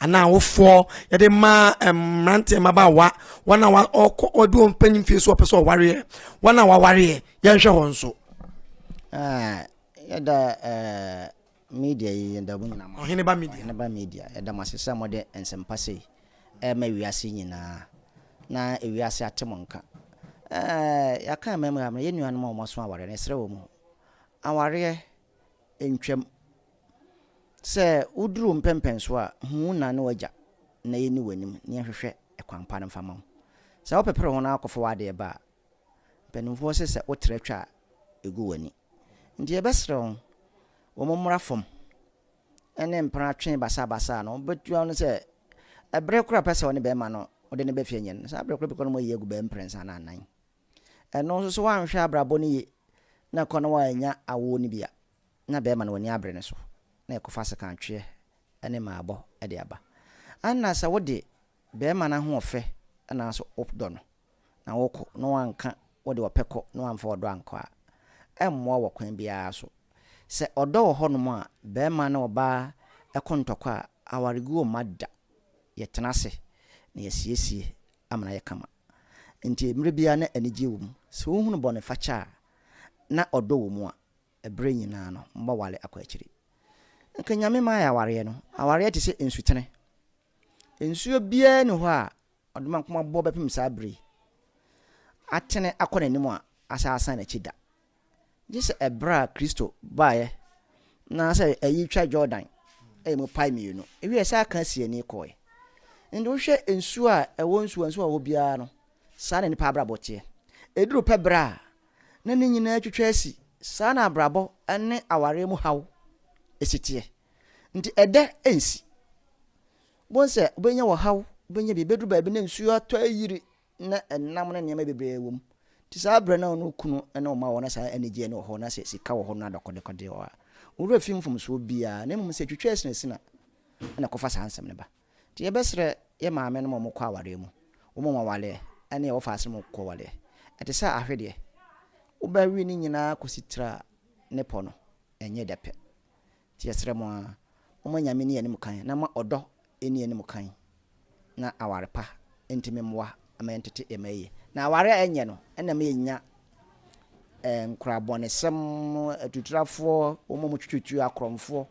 anaa awofoɔ yɛde ma mmeranteɛ mmabaawa wɔn a wɔkɔ wɔde wɔn mpanyin fie so wɔpɛ sɛ ɔwareɛ wɔn a wɔawareɛ yɛnhwɛ hɔ nso. Ah, yɛda eh, media yi yɛda mu nyinaa ɔhene ba media ɔhene ba media yɛda mo ase sɛ mode nsɛmpa sei ɛma eh, wiase nyinaa na wiase ate mo nka eh, yɛaka mmammerɛ yɛ nuanom a wɔmaso awareɛ no ɛserɛ wɔ mu awareɛ ntwam. Sɛ woduru mpɛnpɛnso a, hu wo na ne w'agya na yenni w'anim na yɛnhwehwɛ kwan pa no mfa mma wo. Sɛ wopepere ho na woakɔfa w'ade reba a, mpanimfoɔ se sɛ wotra twa a, egu w'ani. Enti yɛbɛsrɛ wo, wo mommra fam ne mpena twe basabasa no, wobetua wo no sɛ ɛbere koro a wopɛ sɛ wo ne bɛrima no wode no ba fie nyɛ no, saa bere koro bɛkɔ no mu ayi agu bɛɛ mprɛnsa anaa nnan. Ɛno nso sɛ woanhwɛ abrabɔ no yie na kɔ na woannya awoɔ no bi a, na bɛrima no w'ani abere ne so na ɛkɔfa sekantweɛ ne mmaabɔ de aba. Ɛna sɛ wode bɛrima no ahoɔfɛ anaasɛ wodɔ no na wokɔ na woanka wode ɔpɛ kɔ na woamfa ɔdɔ ankɔ a, ɛmmoa wɔ kwan biara so. Sɛ ɔdɔ wɔ hɔnom a, bɛrima ne ɔbaa ko ntɔkwa a, awaregu mma da. Yɛtena ase na yɛsiesie ama no ayɛ kama. Enti mmere biara na anigye wom. Sɛ wohunu bɔnefakyɛ a, na ɔdɔ wɔ mu a, bere nyinaa no, mobɛware akɔ akyiri. Anka Nyame mmae awareɛ no. Awareɛ te sɛ nsutene. Nsuo biara nni hɔ a ɔde ma nkomaboɔ bɛpem saa bere yi. Atene akɔ n'anim a, asan asan n'akyi da. Gye sɛ ɛberɛ a Kristo baeɛ na sɛ ayi twa Jordan ɛyɛ mu pae mmienu ɛwieɛ saa ka asiani kɔɔɛ nti wohwɛ nsuo a ɛwɔ nsuo nsuo a ɛwɔ biara no saa na nipa abrabɔ teɛ ɛduru pɛ berɛ a na ne nyinaa twitwa asi saa na abrabɔ ne awareɛ mu haw ɛsi teɛ nti ɛdɛ ɛnsi bohu sɛ wobɛnya wɔ haw wobɛnya bi bɛduru baabi na nsuo atɔ ayiri na ɛnam ne nneɛma bebree wɔ mu. Nti saa berɛ no a ɔno kunu ne ɔma wɔ na saa anigyeɛ no wɔ hɔ na sɛ sika wɔ hɔ no adɔkɔdekɔdeɛ wɔ hɔ a, ɔwerɛ fi mfomsoɔ biara na mmom sɛ ɛtwitwa asinasini a ɛna ɛkɔfa saa nsɛm no ba. Nti yɛbɛsrɛ yɛ maame nom a wɔkɔ awareɛ mu, wɔn a wɔawaleɛ ne a wɔfa ase nom kɔ awaleɛ. Ɛte sɛ ahwedeɛ, wobɛwe ne nyinaa kɔsi tire a ne pɔ no nyɛ dɛ pɛ. Nti yɛsrɛ mo ara, momma Nyame nni yɛn anim kan, na momma ɔdɔ nni yɛn anim kan, na aware pa ntumi mmoa mma yɛntete yɛn mma yiye. Na aware a ɛnyɛ no na ɛma yɛnya nkorabɔnesɛm, atuturafoɔ, wɔn a wɔtwitwitwi, akorɔmfoɔ.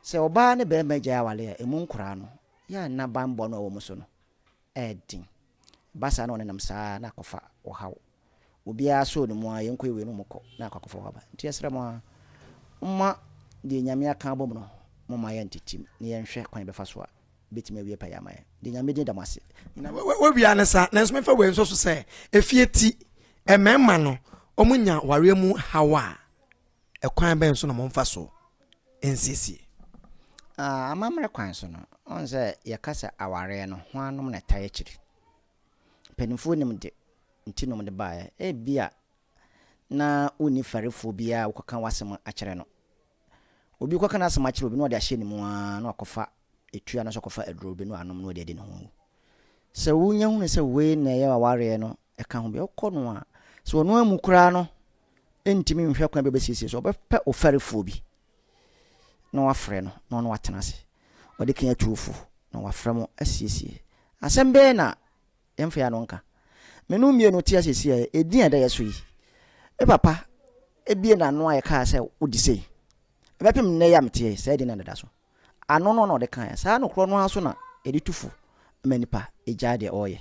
Sɛ ɔbaa ne barima gyae aware a, ɛmu nkoraa no, yɛ a nna banbɔ no a ɛwɔ wɔn so no ɛyɛ den. Ɛba saa na wɔnenam saa ara na akɔfa ɔhaw. Obiara sɔɔ ne mu ara, yɛnkɔ yɛwɔ yɛn mu kɔ, na akɔ akɔfa ɔhaw aba. Enti yɛsrɛ mo ara, momma deɛ Nyame aka abɔ mu no, momma yɛntetem na yɛnhwɛ kwan a yɛbɛfa so a ɛbɛtumi awie pɛyɛ ama yɛn. Deɛ Nyame din da mo ase. Nyinaa wɔawie ara ne saa, nanso memfa wei nsɔ so sɛ, efie ti, mmarima no, wɔnya awareɛ mu haw a, Ɛkwan bɛn so na momfa so nsiesie? Amammerɛ kwan so no, wohu sɛ yɛka sɛ awareɛ no, hwannom na ɛtaa akyiri? Mpanimfoɔ nim de nti na wɔde baeɛ. Ebia na wonni farifoɔ biara a wokɔka w'asɛm akyerɛ no. Obi kɔka n'asɛm akyerɛ obi na ɔde ahyɛ ne mu ara na wakɔfa etua anaasɛ ɔkɔfa aduro bi na wanom na ɔde adi ne ho awu. Sɛ wonya hunu sɛ wei na ɛyɛ awareɛ no ɛka ho bi a, wokɔ no a, sɛ ɔno ammu koraa no, ntumi nhwɛ kwan bi a ɔbɛsiesie so. Ɔbɛpɛ ɔfɛrefoɔ bi na wafrɛ no na ɔne no atena ase. Ɔde kan atu wo fo na wafrɛ mo asiesie. Asɛm bɛn na yɛmfa yɛn ano nka? Me ne wo mmienu te ha seesei a, edin a ɛda yɛn so yi, me papa bue n'ano a yɛkaa sɛ wode sei. Ɛbɛpem nnɛ yi a meteɛ yi, saa edin no na ɛda so. Ano no na ɔde kaeɛ. Saa ano korɔ no ara nso na yɛde tu fo ma nipa gyae deɛ ɔreyɛ.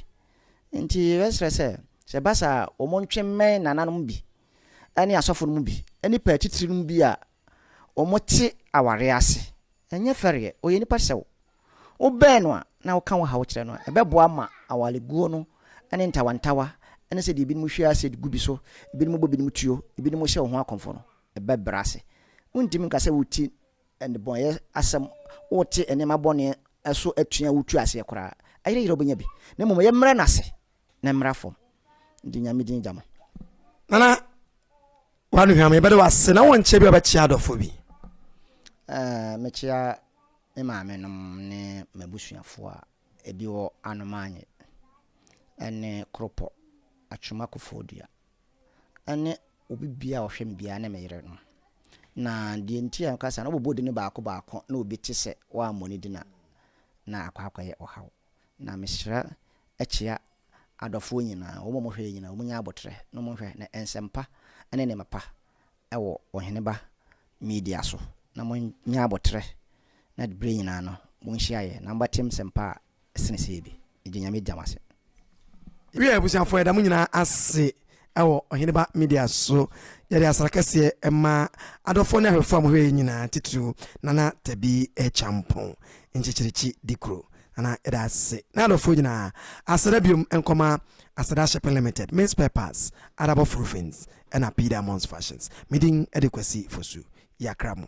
Nti yɛbɛsrɛ sɛ, sɛ ɛba saa a, wɔntwe mmɛn nana no mu bi ne asɔfo no mu bi ne pɛ atitire no mu bi a wɔte awareɛ ase. Ɛnyɛ fɛreɛ, ɔyɛ nipa te sɛ wo. Wobɛn no a na woka wo haw kyerɛ no a, ɛbɛboa ma awareguo no ne ntawantawa ne sɛ deɛ binom hwie acid gu bi so, binom bɔ binom tuo, binom hyɛ wo ho akɔmfo no bɛbrɛ ase. Wontumi nka sɛ woti Nnebɔneyɛ asɛm, Wote nneɛma bɔne so atua a wotu aseɛ koraa ayerɛyerɛ a wobɛnya bi, na mmom ɛyɛ mmrɛ no ase na mmra fam de Nyame din gya no. Nana, W'anuhwam, yɛbɛda wo ase na wonkyɛ biaa wobɛkyea adɔfoɔ bi. Ɛɛ, mekyea me maame nom ne m'abusuafoɔ a ɛbi wɔ Anomaanye ɛne Kropɔ, Atwuma Kofoɔdua, ne obi biara a ɔhwɛ me biara ne me yere no. Na deɛ nti a meka saa no, wobɛbɔ din baako baako na obi te sɛ woammɔ ne din a, na akɔ akɔyɛ ɔhaw. Na mehyira kyea adɔfoɔ nyinaa, wɔn a wɔhwɛ yɛn nyinaa, wɔnyɛ aboterɛ na wɔnhwɛ na nsɛmpa ne nneɛma pa wɔ Ɔheneba Media so. Na monyɛ aboterɛ na berɛ nyinaa no monhyia yɛn na mobɛte nsɛmpa a sene sei bi egye nyame dea mase. Wiɛ abusuafoɔ yɛda mo nyinaa ase wɔ Ɔhene Ba Media so. Yɛde asra kɛseɛ ma adɔfoɔ ne ahwɛfoɔ a mo hwɛ yɛn nyinaa titiriw Nana Tabi Kyampong Nkyekyerikyi Dikuro. Nana yɛda ase ne adɔfoɔ nyinaa. Aseda biom nkɔma Aseda Shipping Limited, Mins Spare Parts, Adabɔf Roofings ɛna P Diamonds Fashions. Me din de Kwasi Fosu. Yɛakra mo.